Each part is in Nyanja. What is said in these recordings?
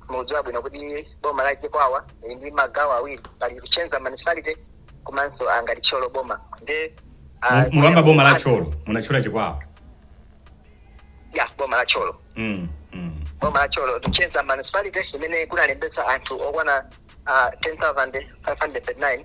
mudziwa bwino kuti boma la chikwawa lili ndi magawo awiri pali Luchenza municipality komanso angati Thyolo boma ndi ah, Mu- mukamba boma la Thyolo munatchula chikwawa ya boma la Thyolo Mm, mm. boma la Thyolo Luchenza municipality imene kunalembetsa anthu okwana ah, 10539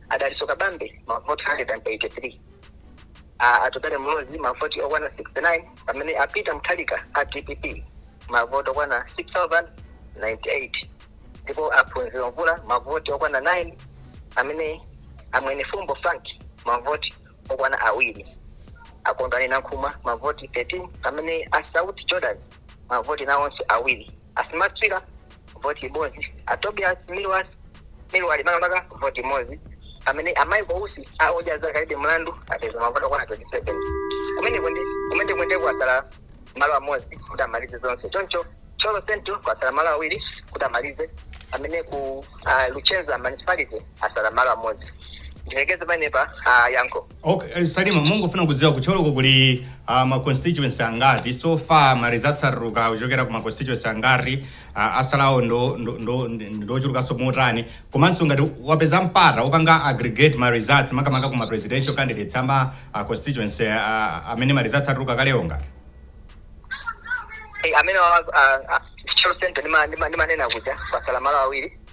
a Dalitso Kabambe mavoti 183, a Atupele Muluzi mavoti okwana 69 pamene a Peter Mutharika a DPP mavoti okwana 6098 ndipo a Phunziro Mvula mavoti okwana 9 amene a Mwenefumbo Frank mavoti okwana awiri a Kondwani Nankhumwa mavoti 13 pamene a Sauti Jordan mavoti nawonso awiri a Smart Swira voti imodzi a Tobias Milward Milward makamaka voti imodzi pamene a Michael Usi a Odya Zake Alibe Mlandu apeza mavoti okwana 27 kumeneko ndi kumeneko ndi kwasala malo amodzi kuti amalize zonse choncho Thyolo Central kwasala malo awiri kuti amalize amene ku uh, Luchenza municipality asala malo amodzi ndilekeze panepa uh, yankho Ok, eh, Salima mungofuna kudziwa ku Thyoloko kuli uh, ma constituency angati so far ma results atuluka kuchokera ku ma constituency angati uh, asalawo ndo ndo- ndo- ndochulukanso motani komanso ngati wapeza mpata wopanga aggregate ma results makamaka ku ma presidential candidates ama uh, constituency uh, amene ma results atuluka kalewo ngati Eh, amene wa- ah, ah, Thyolo Central ndima- ndima- ndimanena kuja pasala malo awiri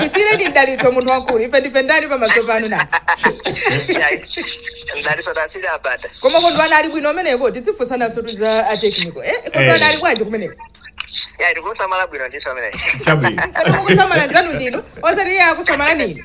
tisiyire ndi mdalitso munthu wamkulu ife ndife ndani pamaso panu na mdalitso tasiri abada koma Kondwani ali bwino kumeneko tidzifunsananso tu za technical eh Kondwani Eh. ali bwanji kumeneko ya tikusamala bwino ndiso amene chabwino koma kusamala nzanu ndinu osati iye akusamala nini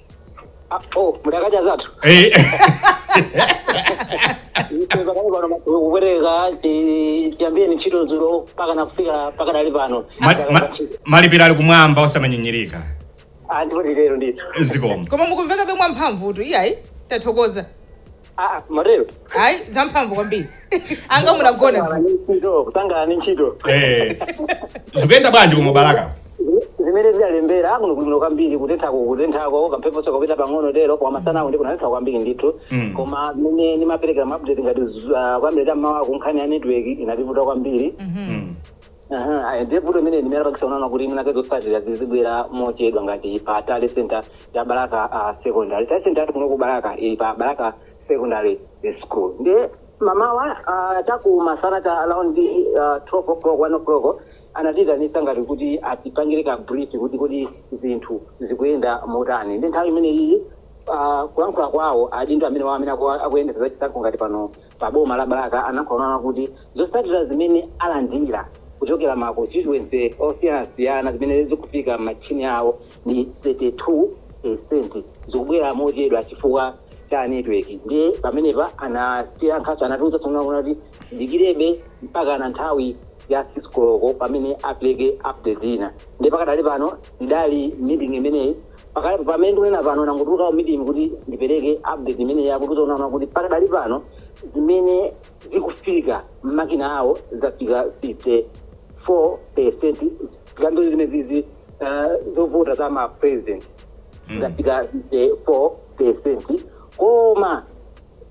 oh mudakadya zathu Eh, ife pakali pano masiku kupereka chi- chiyambireni ntchito dzulo mpakana kufika pakadali pano ma- ma- malipiro ali kumwamba osamanyinyirika ndipotu lero ndithu zikomo koma mukumveka bwino mwamphamvutu iyayi tathokoza Ah, Maril. hayi zamphamvu kwambiri anga munagona dzulo. Ntchito, kutangana ni ntchito. Eh, zikuyenda bwanji ku Balaka Zimene zidalembera akuno kulino kwambiri kutentha kukutenthako kamphepo soko kupita pang'ono tero koma masana awo ndi kunatentha kwambiri ndithu. Mm. Koma mene ndimapereka ma update ngati uh, kuyambira ta m'mawa kunkhani ya network inativuta kwambiri. Mm. Aha, aya, ndiye vuto imene ndimene yapangitsa kunena kuti mwina pake zotsatira zizibwera mochedwa ngati pa tally center ya Balaka uh, secondary tally center yathu kuno ku Balaka ili pa Balaka secondary school ndiye m'mamawa uh, taku masana ta around uh, 12 o'clock 1 o'clock anatiitanitsa ngati kuti atipangire ka brief kuti kodi zinthu zikuyenda motani ndi nthawi imene iyi uh, kulankhula kwawo adindo amene wawo amene aku- akuyendetsa zachisankho ngati pano pa boma la Balaka anakhoonena kuti zotsatira zimene alandira kuchokera ma constituency osiyanasiyana zimene zikufika m'matchini awo ndi 32 percent zikubwera mochedwa chifukwa cha network ndiye pamenepa anasiya nkhaniso anatiuzaso onena kuti tidikirebe mpaka na nthawi ya 6 koloko pamene apereke update ina ndiye pakadali pano ndinali mmeeting imeneyi pakali pamene ndikunena pano ndangotuluka ku meeting kuti ndipereke update imeneyi akutiuza onena kuti pakadali pano zimene zikufika m'makina awo zafika 54 percent zikambiri zimene zizi uh, zovota za ma president zafika 54 percent koma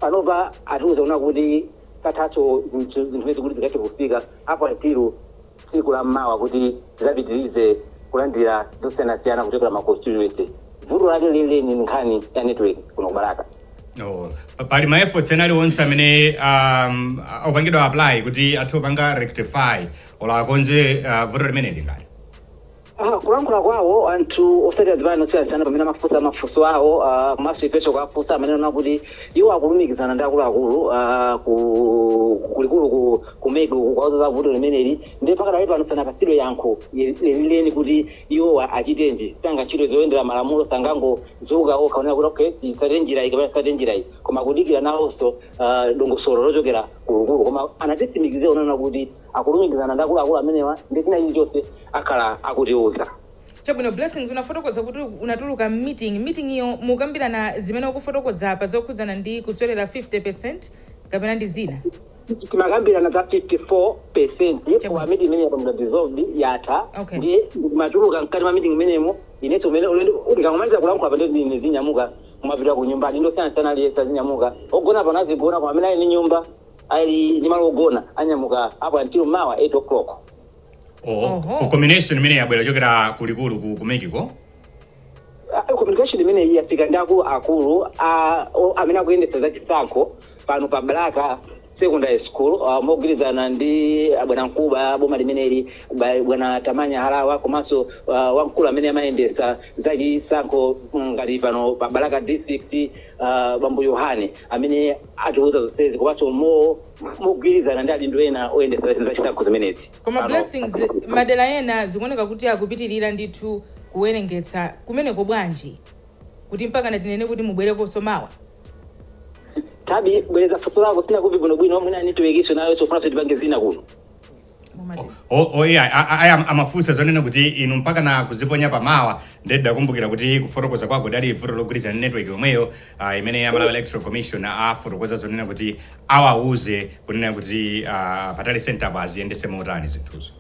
panopa atiuza onena kuti kathatso zinthu zinthu zimene zikuti zikathe kufika apo atiru tsiku la mmawa kuti tizapitirize kulandira zosiyanasiyana kuchokera ma constituency vuto lake lenileni ndi nkhani ya network kuno ku balaka Oh, pali ma efforts ena aliwonse amene um, apangidwa apply kuti athe kupanga rectify olo akonze uh, vuto limeneli ngati Ah, kulankhula kwawo anthu otsatira zipani zosiyanasiyana pamene amafunsa mafunso awo ah, komanso ifenso kuwafunsa amanena kuti iwo akulumikizana ndi akuluakulu ah, ku- kulikulu ku- ku mec uku kuwauza za vuto limeneli ndiye pakadali pano sanapatsidwe yankho ye- lenileni kuti iwo a- achitenji zangati ntchito zoyendera malamulo sangangozuka okha onena kuti okay titsate njira iyi kapena titsate njira iyi koma kudikira nawonso ah, dongosolo lochokera kulikulu koma anatitsimikizira onena kuti akulumikizana ndi akuluakulu amenewa ndi china chilichonse akhala akutiuza chabwino blessings unafotokoza kuti unatuluka mmeeting meeting iyo mumakambirana zimene ukufotokoza apa zokhudzana ndi kutsalira 50 percent kapena ndi zina timakambirana za 54 percent Chabwino. koma meeting imeneyi yapanga dissolved yatha Okay. ndimatuluka mkati mwa meeting imeneyo inenso umene ndikamaliza kulankhula pano ndizinyamuka kumapita ku nyumba ndi anthu osiyanasiyana aliyense azinyamuka ogona pano azigona koma amene ali ndi nyumba ali ndi malo ogona anyamuka up until mawa 8 o'clock Oh, Oho. oh. communication imeneyi yabwera kuchokera kulikulu ku, ku mec ko Ah, communication imeneyi yafika ndi akulu akulu ah, o- amene akuyendetsa za chisankho pano pa balaka secondary school ah, mogwirizana ndi ah, bwanamkubwa wa boma limeneli ba- bwana tamanya harawa komanso ah, wamkulu amene amayendetsa za chisankho mm, ngati pano pa balaka district ah, bambo yohane amene atiuza zonsezi komanso mo mogwirizana ndi adindo ena oyendetsa za chisankho zimenezi koma Pano- blessings madera ena zikuoneka kuti akupitirira ndithu kuwerengetsa kumeneko bwanji kuti mpakana anene kuti mubwerekonso mawa tabwereza funso lako sindinakumve bwinobwino mwina network nso nayonso ikufuna itipange zina kuno mumati O- o- iya, a- a- aya amafunsa zonena kuti inu mpaka na kuziponya pamawa ndiye ndidakumbukira kuti kufotokoza kwako lidali vuto logwirizana ndi network yomweyo ah, imene a malawi electoral commission afotokoza zonena kuti awauze kunena kuti ah, pa tally center pa aziyendetse motani zinthuzo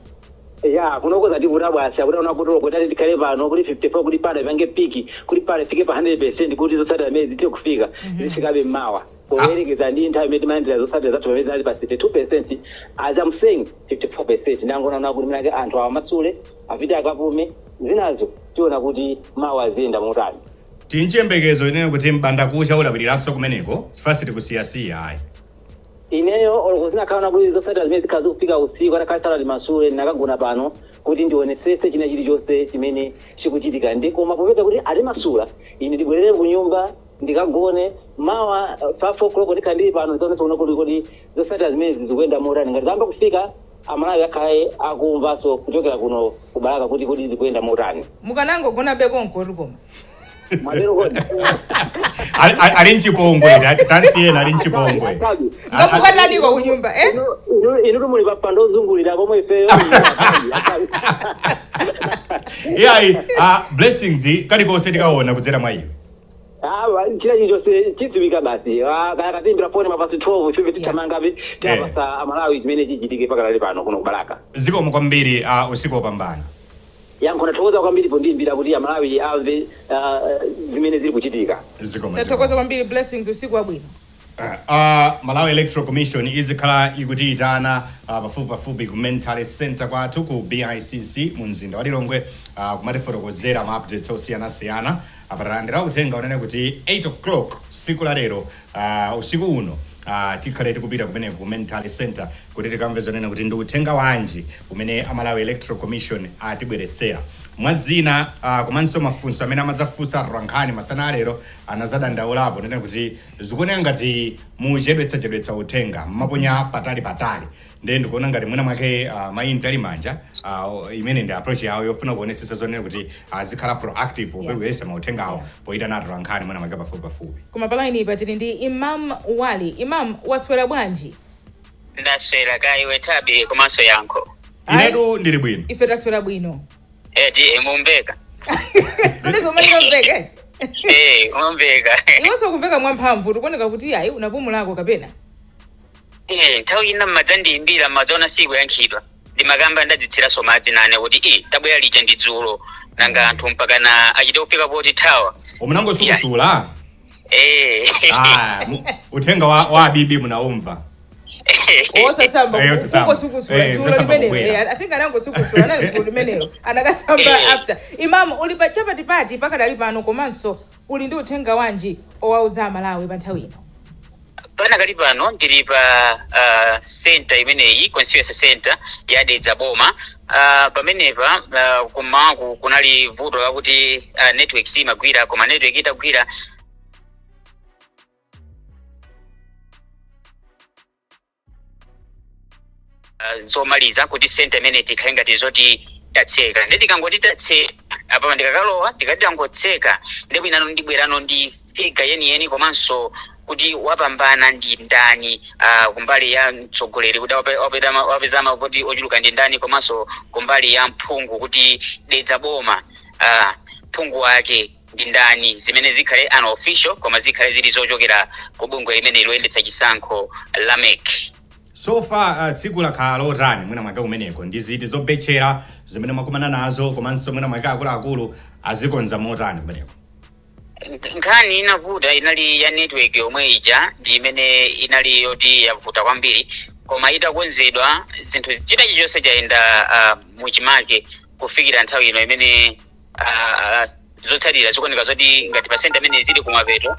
ya kunoko zandivuta bwasi akuti unakutolo kuti tikhale pano kuti 54 kuti pano ipange piki kuti pano ifike pa 100 kuti zotsatira zimenezi zithe kufika zifikabe mmawa poyerekeza ndi nthawi imene timalandira zotsatira zathu pamene tinali pa 32 percent as I'm saying 54 percent ndangoona kuti mwinake anthu awamasule apite akapume zinazo tiona kuti mawa ziyenda motani tili nchiyembekezo chonena kuti mbandakucha ulawiriranso kumeneko chifukwa sitikusiyasiyayi ineyo oloko zinakakhala kuti zotsatira zimene zikhala zikufika usiku atakhala sanatimasule nkanagona pano kuti ndionetsetse china chilichonse chimene chikuchitika ndi koma popeza kuti atimasula ine ndibwerere ku nyumba ndikagone. Mawa pa 4 o'clock ndikhala ndili pano ndidzaonenso kuno kuti kodi zotsatira zimenezi zikuyenda motani. Ngati zayamba kufika, Amalawi akhale akumvanso kuchokera kuno ku Balaka kuti kodi zikuyenda motani. mukanangogonabe konkotu koma Mwatero kodi? Ali- ali- ali mchipongwe atsansi ena ali mchipongwe mukukataniko kunyumba eh? Inu- inu- Inutu muli pampando ozungulira pomwe ifeyo. iyayi ah, blessings kulikonse tikaona kudzera mwa iwe Awa china chilichonse chidziwika basi. Ah, akatiimbira foni ma past 12 tithamangabe tiapatsa amalawi chimene chichitike pakadali pano kuno ku Balaka. zikomo kwambiri uh, usiku wopambana Yankho ndathokoza kwambiri pondiimbira kuti amalawi amve ah, zimene zili kuchitika. zikomo tathokoza kwambiri blessings usiku wabwino Uh, Malawi Electoral Commission izikhala ikutiitana uh, pafupi pafupi ku Main Tally Center kwathu ku BICC mu mzinda wa Lilongwe uh, kumatifotokozera ma updates osiyanasiyana apa talandira uthenga wonena kuti 8 o'clock tsiku la lero uh, usiku uno uh, tikhale tikupita kumene ku Main Tally Center kuti tikamve zonena kuti ndi uthenga wanji umene a Malawi Electoral Commission atibweretsera mwa zina uh, komanso mafunso amene amadzafunsa atolankhani masana a lero anazadandaulapo kunena kuti zikuoneka ngati muchedwetsachedwetsa uthenga mumaponya patali patali ndiye ndikuona ngati mwina mwake uh, mayi Mtalimanja uh, imene ndi approach yawo yofuna kuonetsetsa zonena kuti azikhala uh, proactive popereka yeah. mauthenga awo yeah. poyitana atolankhani mwina mwake pafupi pafupi koma palainiyi pa tili ndi imam wali imam waswera bwanji ndaswera kaya iwe Thabi komanso yankho inetu ndili bwino ife taswera bwino eti eh, ng'ombeka kodi zomwe ng'ombeka eh? eh mukumveka iwenso ukumveka mwamphamvu zikuoneka kuti ayi unapumulako kapena eh nthawi ina mmadzandiyimbira mmadzaona sikuyankhidwa ndimakamba ndadzithiraso madzi nane kuti i tabwera lija ndi dzulo nanga anthu mpaka na achite kufika potithawa umu nangosukusula Eh. Ah, mu- uthenga wa, wa abibi munaumva osasamba Eh, osasamba. kungosukusula Eh, dzulo osasamba limenelo kubwera. Eh, i think anangosukusula anali gulu limenelo anakasamba Eh. after imamu uli cha patipati pakadali pano komanso uli ndi uthenga wanji owauza amalawi pa nthawi ino Pakadali pano ndili pa uh, center imeneyi constituency center ya Dedza Boma. Uh, pamenepa uh, kum'mawaku kunali vuto lakuti uh, network simagwira koma network itagwira ah, zomaliza kuti senta imeneyi tikhale ngati zoti tatseka ndiye tikangoti tatseka apa ndikakalowa tikangotseka ndipo ine ndibwerano ndi figa yeniyeni komanso kuti wapambana ndi ndani ah, kumbali ya mtsogoleri kuti wape- wapeza ma- wapeza mavoti ochuluka ndi ndani komanso kumbali ya mphungu kuti dedza boma ah, mphungu wake ndi ndani zimene zikhale unofficial koma zikhale zili zochokera ku bungwe limeneli loyendetsa chisankho la mec so far uh, tsiku lakhala lotani mwina mwake kumeneko ndi ziti zobetchera zimene mwakumana nazo komanso mwina mwake akuluakulu azikonza motani kumeneko nkhani inavuta inali ya network yomwe ija ndi imene inali yoti yavuta kwambiri koma itakonzedwa zinthu china chilichonse chayenda uh, muchimake kufikira nthawi ino imene ah, ah, zotsatira zikuoneka zoti ngati pa center imeneyi zili kumapeto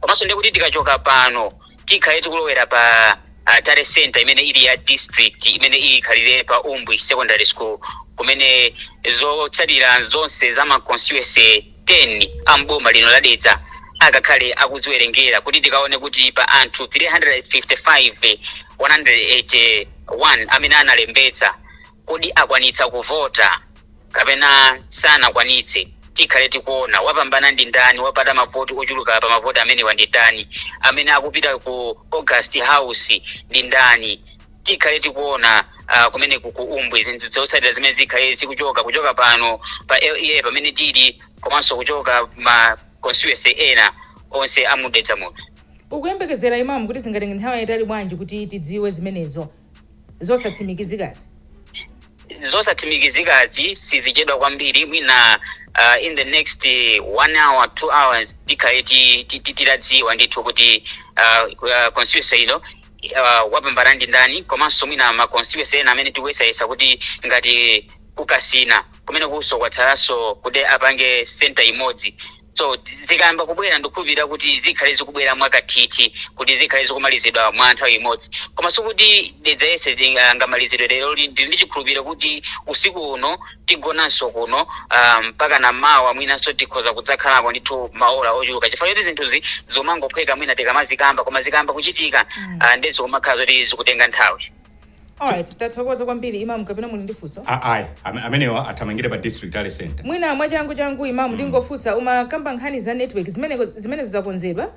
komanso ndiye kuti tikachoka pano tikhale tikulowera pa ah, tally center imene ili ya district imeneyi ikhalire pa umbwi secondary school kumene zotsatira zonse za ma constituency 10 a mboma lino la dedza akakhale akuziwerengera kuti tikaone kuti pa anthu 355 181 amene analembetsa Kodi akwanitsa kuvota kapena sanakwanitse? Tikhale tikuona. Wapambana ndi ndani? Wapata mavoti ochuluka pa mavoti amenewa ndi ndani? Amene akupita ku August House ndi ndani? Tikhale tikuona ah, kumeneku ku Umbwi zinthu zotsatira zimene zikhale zikuchoka kuchoka pano pa LEA pamene tili komanso kuchoka ma constituency ena onse a mu Dedza muno. Ukuyembekezera Imam kuti zingatenge nthawi yaitali bwanji kuti tidziwe zimenezo? zosatsimikizikazi? zosatsimikizikazi sizichedwa kwambiri mwina uh, in the next uh, one hour two hours tikhale ti- ti- ti- titadziwa ndithu kuti uh, uh, constituency ino uh, wapambana ndi ndani komanso mwina ma constituency ena amene tikuyesayesa kuti ngati ku Kasina kumene uko kwatsalanso kuti apange center imodzi so zikayamba kubwera ndikukhulupirira kuti zikhale zikubwera mwakathithi kuti zikhale zikumalizidwa mwa nthawi imodzi koma sikuti dedza yese zinga- angamalizidwe lero li- ndili ndi chikhulupiriro kuti usiku uno tigonanso kuno ah, mpaka na mawa mwinanso tikhoza kudzakhalako ndithu maola ochuluka chifukwa choti zinthuzi zomangophweka mwina tikamazikamba koma zikayamba kuchitika Mm. ah, nde zikumakhala zoti zikutenga nthawi Alright, tathokoza kwambiri Imam kapena muli ndi funso? Ah, ayi ame- amenewa athamangire pa district tally center Mwina mwachangu changu Imam ndingofunsa umakamba nkhani za network zimene zimene zidzakonzedwa?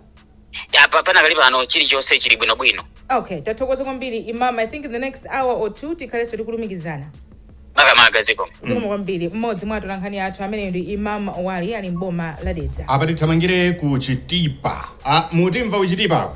Ya, pa- panakali pano chilichonse chili bwinobwino Okay, tathokoza kwambiri Imam. I think in the next hour or two tikhalenso tikulumikizana. makamaka ziko Zikomo kwambiri mmodzi mwa atolankhani athu ameneyo ndi Imam Wali ali m'boma la Dedza. apa tithamangire ku chitipa ah, mutimva ku chitipako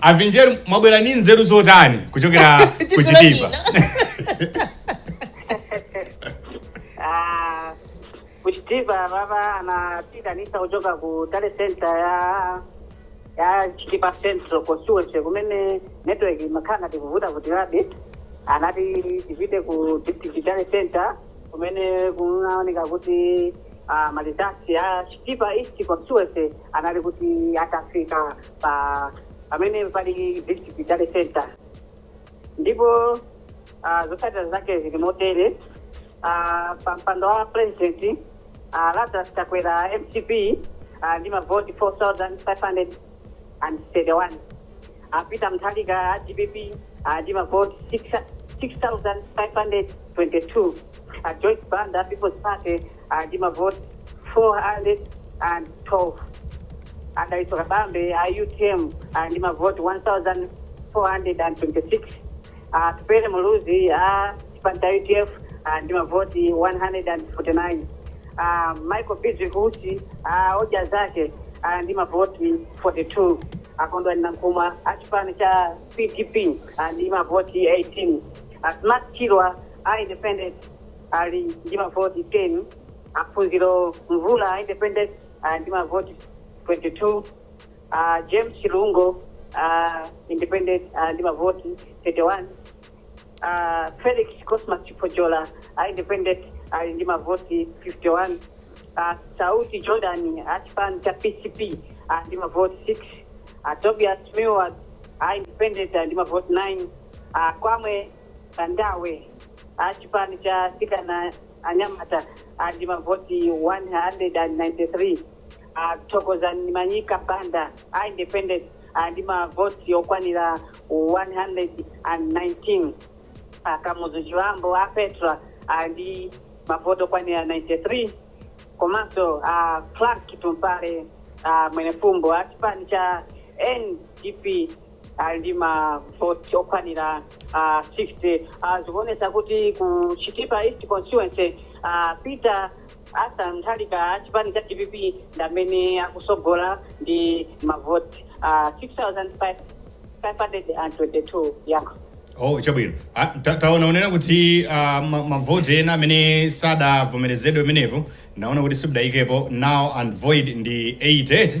a vinjeru mwabwera ni nzeru zotani kuchokera ku chitipa Ah, ku chitipa baba anatiitanitsa kuchoka ku tally center ya ya chitipa central constituency kumene network imakhala ngati ikuvuta kuti labe anati tipite ku district tally center kumene kunaoneka kuti ah, ma results ya chitipa east constituency anali kuti atafika pa pamene pali district tally center ndipo ah, zotsatira zake zili motere Ah, pa mpando wa president ah, lazarus chakwera mcp ah, ndi mavoti 4531 a peter mutharika a dpp ah, ndi mavoti 6 6522 a joyce banda people's party ndi mavoti 412 a dalitso kabambe a utm ah, ndi mavoti 1426 atupele muluzi a chipani cha udf ah, ndi mavoti 149 ah, michael bizwick usi ah, odya zake ah, ndi mavoti 42 a kondwani nankhumwa a chipani cha pdp ah, ndi mavoti 18 ah, smart swira a independent ali ndi mavoti 10, a Phunziro Mvula a Independent ali ndi mavoti 22, a James Chilungo a Independent ali ndi mavoti 31, a Felix Cosmas Chipojola a Independent ali ndi mavoti 51, a Sauti Jordan a chipani cha PCP ali ndi mavoti 6, a Tobias Milward a Independent ali ndi mavoti 9, a Kwame Bandawe a chipani cha Atsikana anyamata ali ndi mavoti 193, a Thokozani Manyika Banda a Independent ali ndi mavoti okwanira 119, a Kamuzu Chibambo a Petra ali ndi mavoti okwanira 93, komanso a Frank Tumpale Mwenefumbo a chipani cha NDP ali ndi mavoti okwanira ah, 60 Ah, zikuonesa kuti ku chitipa east constituency ah, Peter Arthur Mutharika a chipani cha dpp ndi amene akusogola ndi mavoti ah, 6522 yankho oh chabwino Ah, ta- taona unena kuti ah, ma- mavoti ena amene sadavomerezedwe pamenepo naona kuti simudayikepo null and void ndi 88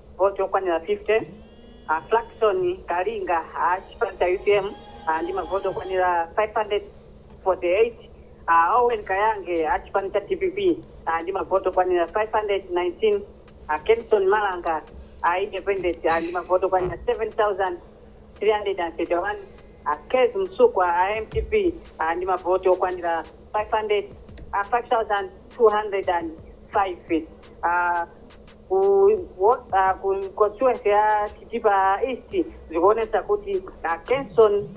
voti okwanira 50. A Flackson Kalinga a chipani cha utm ah, ndi mavoti okwanira 548. A Owen Kayange a chipani cha dpp ah, ndi mavoti okwanira 519. A Kenson Malanga a independent ah, ndi mavoti okwanira 7331 a Kezzie Msukwa a mcp ah, ndi mavoti okwanira 500 ah, 5205 ah, ku ward uh, ku constituency ya Chitipa East zikuonesa kuti a Kenson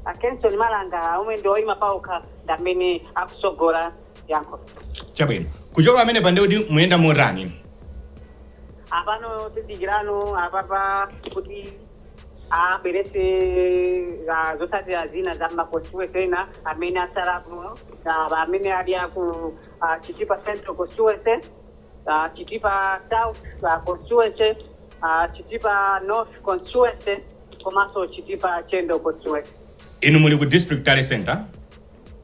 a Kenson Malanga omwe ndi oyima paokha ndi amene akusogola yankho chabwino kuchoka pamenepa nde kuti muyenda motani apano tidikirano apapa kuti abwerese ah, zotsatira zina za maconstituency ena amene asalapo ah, amene ali aku ah, Chitipa Central Constituency uh, Chitipa South uh, constituency, uh, Chitipa North constituency komanso Chitipa Chendo constituency. inu muli ku district tally center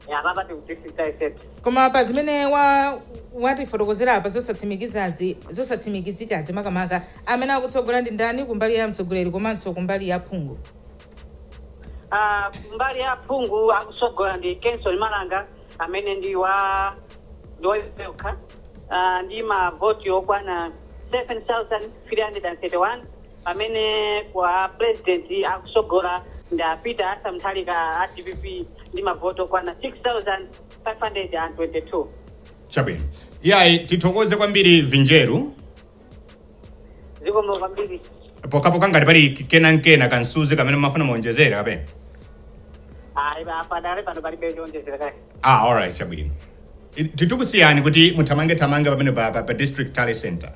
Ya apapa ndili ku district tally center. koma pa zimene wa watifotokozera apa zosatsimikizazi zosatsimikizikazi makamaka amene akutsogola ndi ndani kumbali ya mtsogoleri komanso kumbali ya phungu Ah, kumbali ya phungu akutsogola ndi Kenson Malanga amene ndi wa ndi woyima yekha ah, ndi mavoti okwana 7331 pamene kwa president akusogola ndi a Peter Arthur Mutharika a dpp ndi mavoti okwana 6522 chabwino iyayi tithokoze kwambiri vinjeru zikomo kwambiri pokhapokha ngati pali kena nkena kamsuzi kamene mumafuna muonjezere kapena ayi padakali pano palibe chowonjezera kaya ah alright chabwino I- titakusiyani kuti muthamange thamange pamenepa, pa, pa district tally center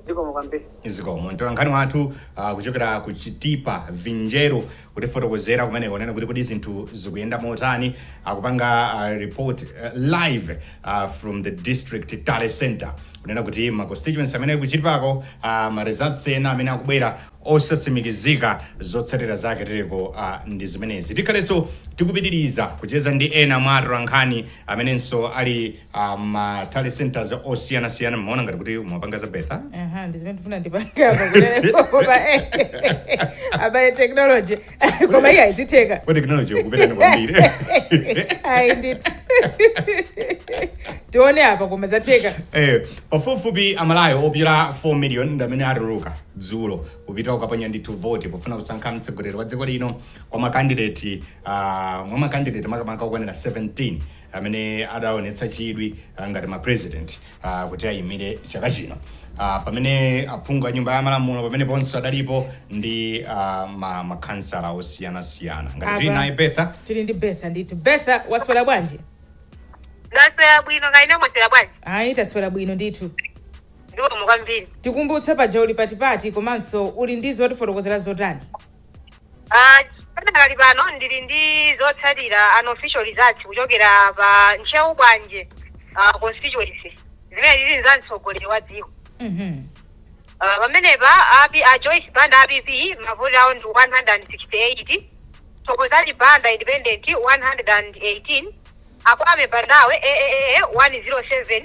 zikomo kwambiri zikomo mtolankhani wathu uh, kuchokera ku chitipa vinjeru kutifotokozera kumeneko kunena kuti kodi zinthu zikuyenda motani akupanga uh, report uh, live uh, from the District Tally Center kunena kuti ma constituency amene akuchitikako uh, ma results ena amene akubwera osatsimikizika zotsatira zake tereko uh, ndi zimenezi tikhalenso tikupitiriza kucheza ndi ena mwa atolankhani amenenso ali ma tally centers osiyanasiyana mmaona ngati kuti mwapanga za Bertha aha ndizimene ndifuna ndipangapa kulepo koma eh, abale technology koma iye ayi zitheka kwa technology ikupitadi kwambiri ayi ndithu tione apa koma zatheka Eh, pafupifupi aMalawi opyola 4 million ndi amene atuluka dzulo kupita kukaponya ndithu voti pofuna kusankha mtsogoleri wa dziko lino kwa makandideti uh, mwa makandideti makamaka okwanira 17 amene adaonetsa chidwi ngati ma president kuti ayimire chaka chino pamene aphungu a nyumba ya malamulo pameneponso adalipo ndi makhansala osiyana siyana ngati tili Apa. naye Bertha tili ndi bertha ndithu bertha waswera bwanji ndaswera bwino kaya inu mwaswera bwanji ayi taswera bwino ndithu zikomo kwambiri tikumbutse paja uli pati pati komanso uli ndi zotifotokozera zotani Ah, padakali pano ndili ndi zotsatira unofficial results kuchokera pa ntcheu bwanje ah, constituency zimene zili za mtsogoleri wa dziko Mhm. Ah, pamenepa a joyce banda a PP mavoti awo ndi 168 thokozani banda independent 118 a Kwame Bandawe aaa 107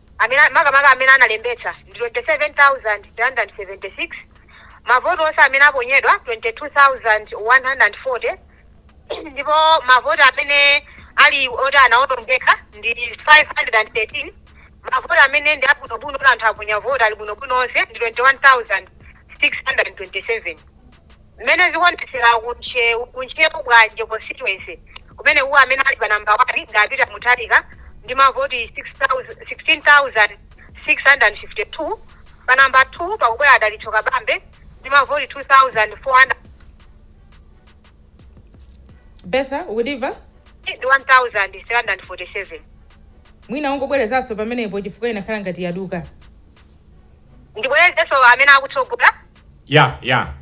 amene makamaka amene analembetsa ndi 27,376, mavoti onse amene aponyedwa 22,140 ndipo mavoti amene ali oti anawonongeka ndi 513. Mavoti amene ndi abwinobwino oti anthu aponya voti ali bwinobwino onse ndi 21,627. Mmene zikuonetsera ku Ntcheu ku Ntcheu Bwanje Constituency kumeneku amene ali pa number 1 ndi a Peter Mutharika ndi mavoti 6,000 16,652, pa number 2 pakubwera a Dalitso Kabambe ndi mavoti 2,400 Bertha, ukutimva? 1,347. Mwina ungobwerezanso pamenepo chifukwa inakhala ngati yaduka. Ndibwerezenso amene akutsogola ya ya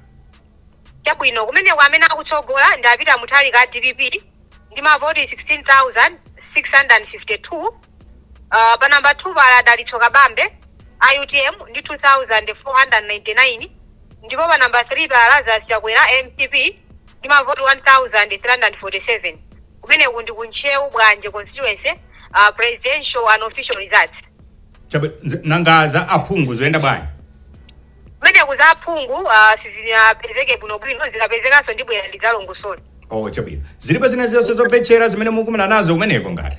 chabwino kumeneko amene akutsogola ndi a Peter Mutharika a DPP ndi mavoti 16652 uh, pa namba 2 pali a Dalitso kabambe a utm ndi 2499 ndipo pa namba 3 pali a Lazarus chakwera mcp ndi mavoti 1347 kumeneku ndi kuntcheu bwanje constituency uh, presidential unofficial results Chabe- nze- nanga za aphungu zayenda bwanji Kumeneku za aphungu ah, sizinapezeke bwinobwino zikapezekanso ndibwera ndidzalongosole oh chabwino zilipo zina zonse zobetchera zimene mukumana nazo kumeneko ngati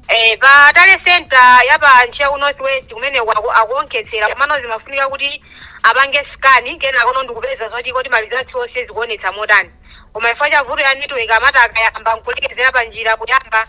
Eh, pa tally center ya pa Ntcheu Northwest kumene aku- akuonkhetsera komano zimafunika kuti apange scan kenakono ndi kupeza zoti kodi malizatsi onse zikuonetsa motani koma chifukwa cha vuto ya network amati akayamba nkulekezera pa njira kuyamba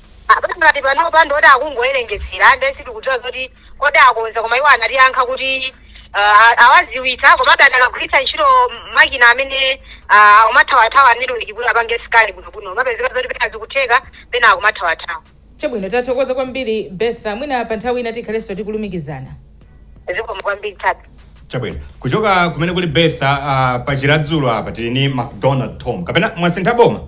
Apatu ngati panopa ndi oti akungowerengetsera ndiye sitikudziwa zoti kodi akonza koma iwo anatiyankha kuti uh, a- awadziwitsa komabe adakagwiritsa ntchito m- makina amene uh, akumathawathawa network kuti apange scan bwinobwino umapezeka zoti pena zikutheka pena akumathawathawa chabwino tathokoza kwambiri betha mwina pa nthawi ina tikhalenso tikulumikizana zikomo kwambiri tatu chabwino kuchoka kumene kuli betha uh, pa chiradzulu apa tili ndi macdonald tom kapena mwasintha boma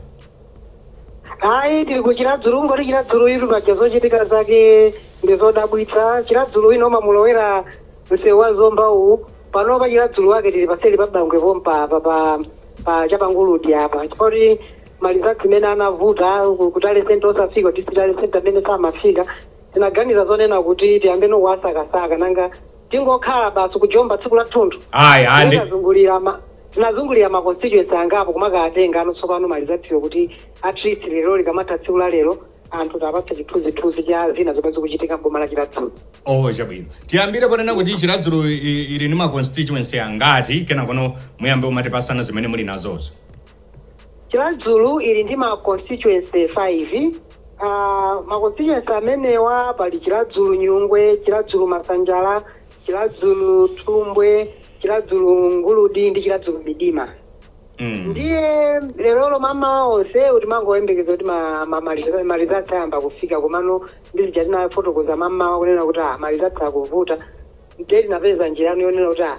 Ayi tili ku Chiradzulu nkoti Chiradzuluyitu paja zochitika zake ndi zodabwitsa. Chiradzulu wina umamulowera msewu wa Zomba uwu. Pano pa Chiradzulu wake tili paseli pa Bangwe pompa apa pa pa cha pa Nguludi apa. Chifoti malizatsi imene anavuta ku- ku tally center osafika kuti ti- tally center amene samafika. Tinaganiza zonena kuti tiyambe ndi kuwasakasaka nanga tingokhala basi kujomba tsiku lathunthu ayi ayi ndi- tinazungulira ma tinazungulira ma constituency angapo kumakatengano tsopano malizatsiwo kuti at least lero likamatha tsiku la lero anthu tawapatsa chithunzithunzi cha zina zomwe zikuchitika mboma la chiradzulu oh chabwino tiyambire ponena kuti chiradzulu i- ili ndi ma constituency angati kenakono muyambe umatipasana zimene muli nazozo Chiradzulu ili ndi ma constituency 5. Pa ma constituency amenewa pali Chiradzulu Nyungwe, Chiradzulu Masanjala, Chiradzulu Thumbwe, Chiradzulu Nguludi ndi Chiradzulu Midima. Ndiye lerolo mamawa onse timangoyembekeza kuti ma, ma, ma, malizatsi ayamba kufika komano ndi zija tinafotokoza mamawa kunena kuti ah, malizatsi akuvuta Ndiye tinapeza njira yonena kuti ah,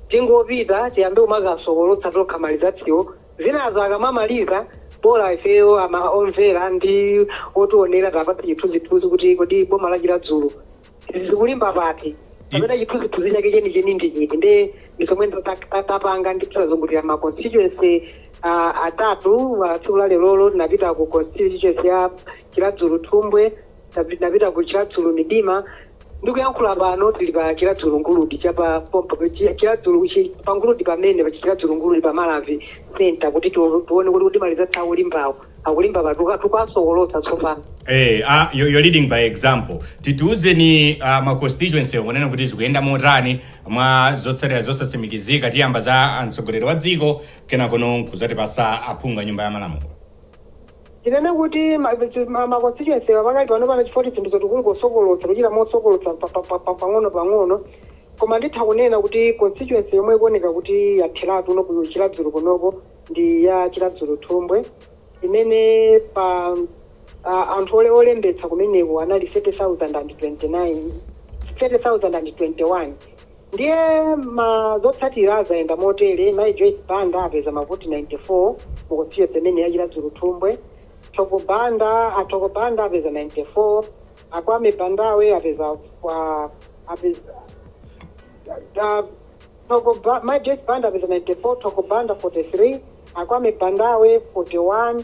tingopita tiyambe kumakasokolotsa tokha malizatsiwo zinazo akamamaliza bola ifeyo ama omvera ndi otionera tawapatsa chithunzithunzi kuti kodi boma la chiradzulu zikulimba pati kapena chithunzithunzi chake chenicheni ndi chiti nde ndi zomwe tapanga ndi tinazungulira ma constituency ah, atatu ah, tsiku la lerolo tinapita ku constituency ya chiradzulu thumbwe Tapi- tinapita ku chiradzulu midima ndikuyankhula pano tili pa chiradzulu nguludi chapa pompa pa chi- chiradzulu chi- pa nguludi pamene pa chiradzulu nguludi pa malavi center kuti tu- tuone kuti kuti malizatsi awo limbawo akulimba pati titukasokolotsa tsopano Eh, ah, you're, you're leading by example tatiuzeni uh, ma constituency wo kunena kuti zikuyenda motani mwa zotsatira zosatsimikizika tiyamba za mtsogoleri wa dziko kenakono nkudzatipatsa aphungu a nyumba ya malamulo Tinene kuti ma, ma, ma constituency pakali pano pana chifukwa choti zinthu zoti kuwonkhetsa kuchita mosokolotsa pa, pa, pa, pa, pang'ono pang'ono koma nditha kunena kuti constituency yomwe ikuoneka kuti yatheratu no ku Chiradzulu konoko ndi ya Chiradzulu Thumbwe imene pa a, anthu ole olembetsa kumeneko anali 30,029 30,021 Ndiye zotsatira zayenda motere, Mayi Joyce Banda apeza mavoti 94 mu constituency imeneyi ya Chiradzulu-Thumbwe, Thoko Banda a Thoko Banda apeza 94, a Kwame Bandawe apeza a apeza a Thoko Ba Mayi Joyce Banda apeza 94, Thoko Banda 43, a Kwame Bandawe 41,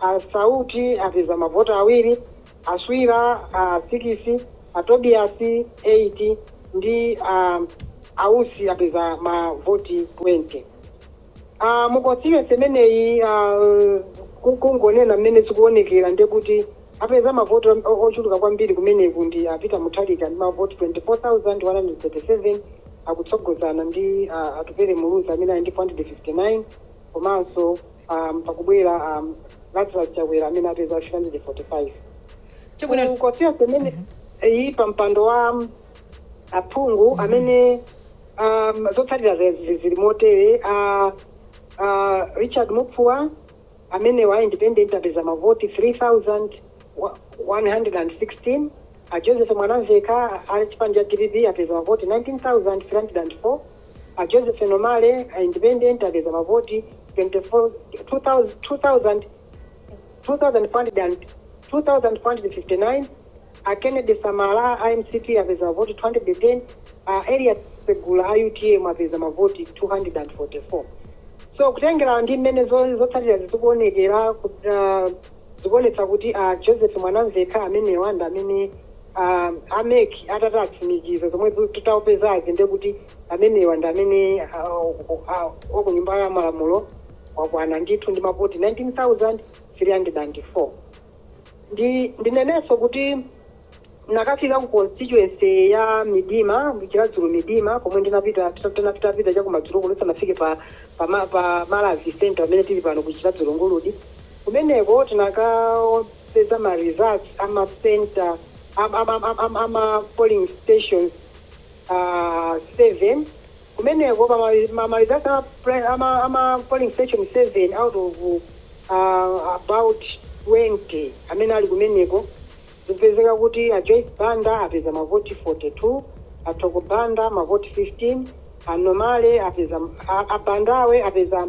A Sauti apeza mavoti awiri, a Swira a 6, a Tobias 8 ndi a Ausi apeza mavoti 20. A mu constituency imeneyi a, ku- kungonena mmene zikuonekera ndiye kuti apeza mavoti o- o- ochuluka kwambiri kumeneku ndi a Peter Mutharika ndi mavoti 24,137 akutsogozana ndi a Atupele Muluzi amene ali ndi 459 komanso um, pakubwera um, lazarus chakwera amene apeza 345 Constituency imeneyi pa mpando wa um, aphungu amene um, zotsatira zake zili motere uh, uh, richard mupfua amenewa a independent apeza mavoti 3116 a joseph mwanamvekha a chipani cha dpp apeza mavoti 19304 A Joseph Nomale a Independent apeza mavoti 24 2,459, a Kennedy Samala a mcp apeza mavoti 210, a Elias Segula a utm apeza mavoti 244. So kutengera ndi mmene zotsatirazi zikuonekera, zikuonetsa kuti a Joseph Mwanamvekha amenewa ndi amene a a mec atati atsimikize zomwe tu- tazipezazi ndiye kuti amenewa ndi amene ah, o- ah, wa ku nyumba ya malamulo wakwana ndithu ndi mavoti 19304 ndi ndinenenso kuti ndinakafika ku constituency ya midima chiradzulu midima komwe ndinapita tinapita pita chakumadzulo kuno tisanafike pa pa, ma- pa malavi center amene tili pano ku chiradzulu nguludi kumeneko tinaka peza ma results a ma center a ma polling stations 7 kumeneko pa ma results a ma polling station 7 out of about 20 amene ali kumeneko zikupezeka kuti a Joyce Banda apeza mavoti 42 a Thoko Banda mavoti 15 a Nomale apeza a Bandawe apeza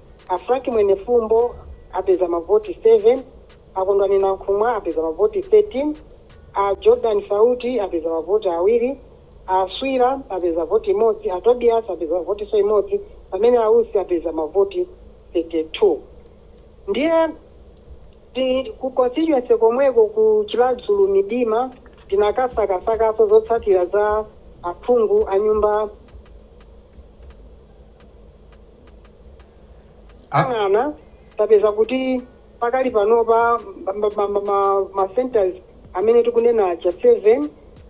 A Frank Mwenefumbo apeza mavoti 7, a Kondwani Nankhumwa apeza mavoti 13, a Jordan Sauti apeza mavoti awiri, a Swira apeza voti imodzi, a Tobias apeza votinso imodzi pamene a Usi apeza mavoti 32. Ndiye ku constituency komweko ku Chiradzulu Midima tinakasakasakanso zotsatira za aphungu a Nyumba Ah. ang'ana tapeza kuti pakali panopa ma- ma- ma- ma- ma- ma centers amene tikunena aja 7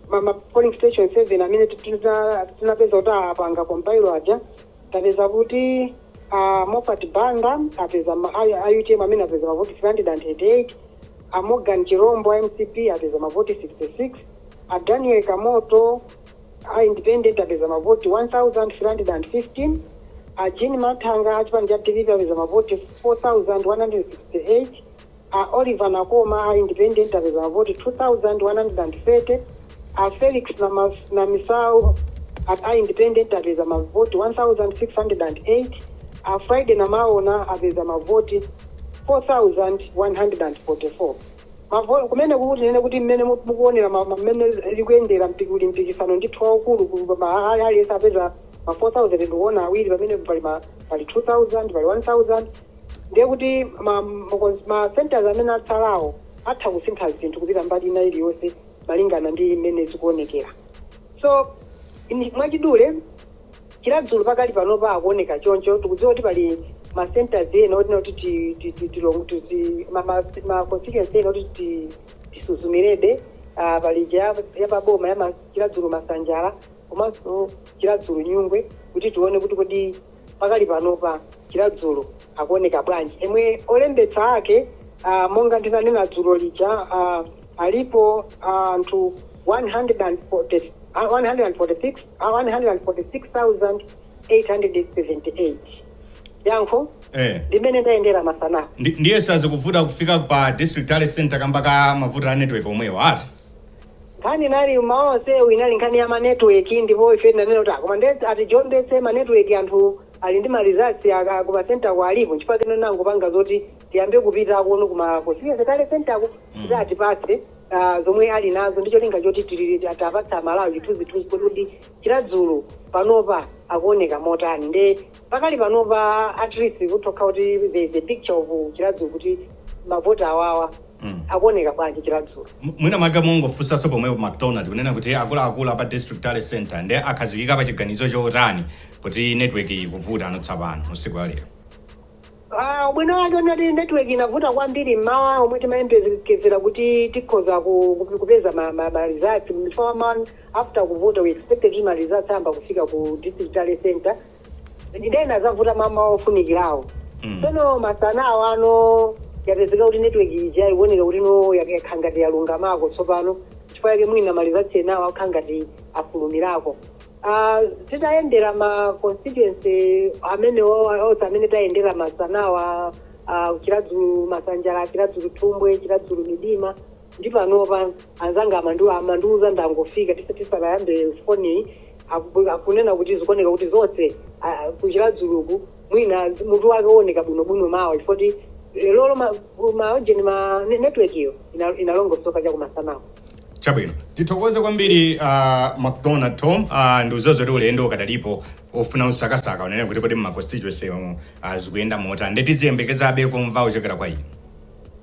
ma- ma polling station 7 amene ti- tina- tinapeza kuti apanga compile aja tapeza kuti ah, Moffat Banda apeza ma- ayu- a utm amene apeza mavoti 388 a morgan chirombo a mcp apeza mavoti 66 a daniel kamoto A independent apeza mavoti 1,315, a Jean Mathanga a chipani cha dpp apeza mavoti 4,168, a Oliver Nakoma a independent apeza mavoti 2,130, a Felix Namisau a a independent apeza mavoti 1,608, a Friday Namaona apeza mavoti 4,144. Mavolo, kumene kuti tinene kuti mmene mukuonera ma mmene likuyendera mpiki uli mpikisano ndithu waukulu ku ma aliyense apeza ma 4000 ndikuona awiri pamene pali ma pali 2000 pali 1000 ndiye kuti ma ma centers amene atsalawo atha kusintha zinthu kupita mbali ina iliyonse malingana ndi mmene zikuonekera so mwachidule Chiradzulu pakali panopa akuoneka choncho. Tikudziwa kuti pali ma centres ena otina kuti ti, ti, ti, tilong- tizi ma, ma, ma constituency ena kuti ti, tisuzumirebe ah, pali ija ya- yapaboma ya ma- Chiradzulu Masanjala komanso Chiradzulu Nyungwe kuti tione kuti kodi pakali panopa Chiradzulu akuoneka bwanji emwe olembetsa ake ah, monga ndinanena dzulo lija ah, alipo ah, anthu 140 ah, 146 a 146,878 yankho Eh. limene ndayendera masana Ndi- ndiye sazikuvuta kufika pa district tally center kamba ka mavuto a network omwewo ati nkhani inali ma onsewu inali nkhani ya manetwork ndipo ife tinanena kuti koma ati john ndese manetwork anthu ali ndi maresults ake ku masentako alipo nchifukwa kenako nangopanga zoti tiyambe kupita kuno kuma constituency tally center ko kuti atipatse zomwe ali nazo ndi cholinga choti tiwapatsa amalawi chithunzithunzi kuti kodi chiradzulu panopa akuoneka motani nde pakali panopa at least kuthokoza kuti there is a picture of chiradzulu kuti mavoti awawa Mm. akuoneka bwanji chiradzulu M- mwina mwake mungofunsanso pomwepo macdonald kunena kuti akuluakulu apa district tally center nde akhazikika pa chiganizo chotani kuti network ikuvuta ano tsopano usiku alero Aaa ubwino wake ngoti network inavuta kwambiri mmawa omwe timayembekezera kuti tikhoza ku kupeza ma ma ma results chifukwa mmawa after kuvota we expected kuti ma results ayamba kufika ku district tally centre ndiye inazavuta mmawa ofunikirawo tsono masana awano yapezeka kuti network ija ikuoneka kuti no yak- yakhala ngati yalungamako tsopano chifukwa chake mwina ma results enawo akukhala ngati afulumirako Titayendera ma constituency amenewowa onse amene tayendera masanawa, uh, Chiradzulu Masanjala, Chiradzulu Thumbwe, Chiradzulu Midima ndi panopa anzanga amandiwa amandiuza ndangofika tisa tisanayambe foni aku- akunena kuti zikuoneka kuti zonse ah, ku Chiradzuluku mwina mutu wake uoneka bwinobwino mawa chifukwa kuti lero ma maujeni ma ne- network iyo ina- inalongosoka chakumasanawa Chabwino, tithokoze kwambiri uh, McDonald Tom uh, ndi izozo kuti ulendo ukadalipo ofuna kusakasaka kunena kuti kodi mma constituency omwe uh, zikuyenda motani nde tiziyembekezabe kumva kuchokera kwa inu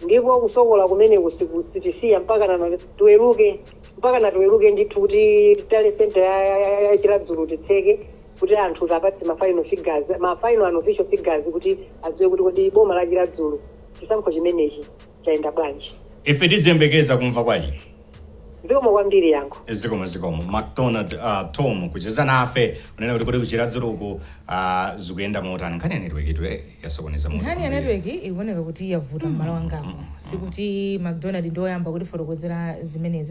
ndipo kusokola kumeneku siku- sitisiya mpakana tiweruke mpakana tiweruke ndithu kuti tally center ya- ya- ya- ya chiradzulu titseke kuti anthu tiwapatse ma final figures ma final unofficial figures kuti adziwe kuti kodi boma la chiradzulu chisankho chimenechi Chayenda bwanji? Ife tiziyembekeza kumva kwa inu. Zikomo kwambiri yankho. zikomo zikomo macdonald uh, tom kucheza nafe kunena kuti kodi ku chiradzuluku uh, zikuyenda motani nkhani ya network itu eh, yasokoneza mutu nkhani ya network ikuoneka kuti yavuta mmalo angapo sikuti macdonald ndi oyamba kutifotokozera zimenezi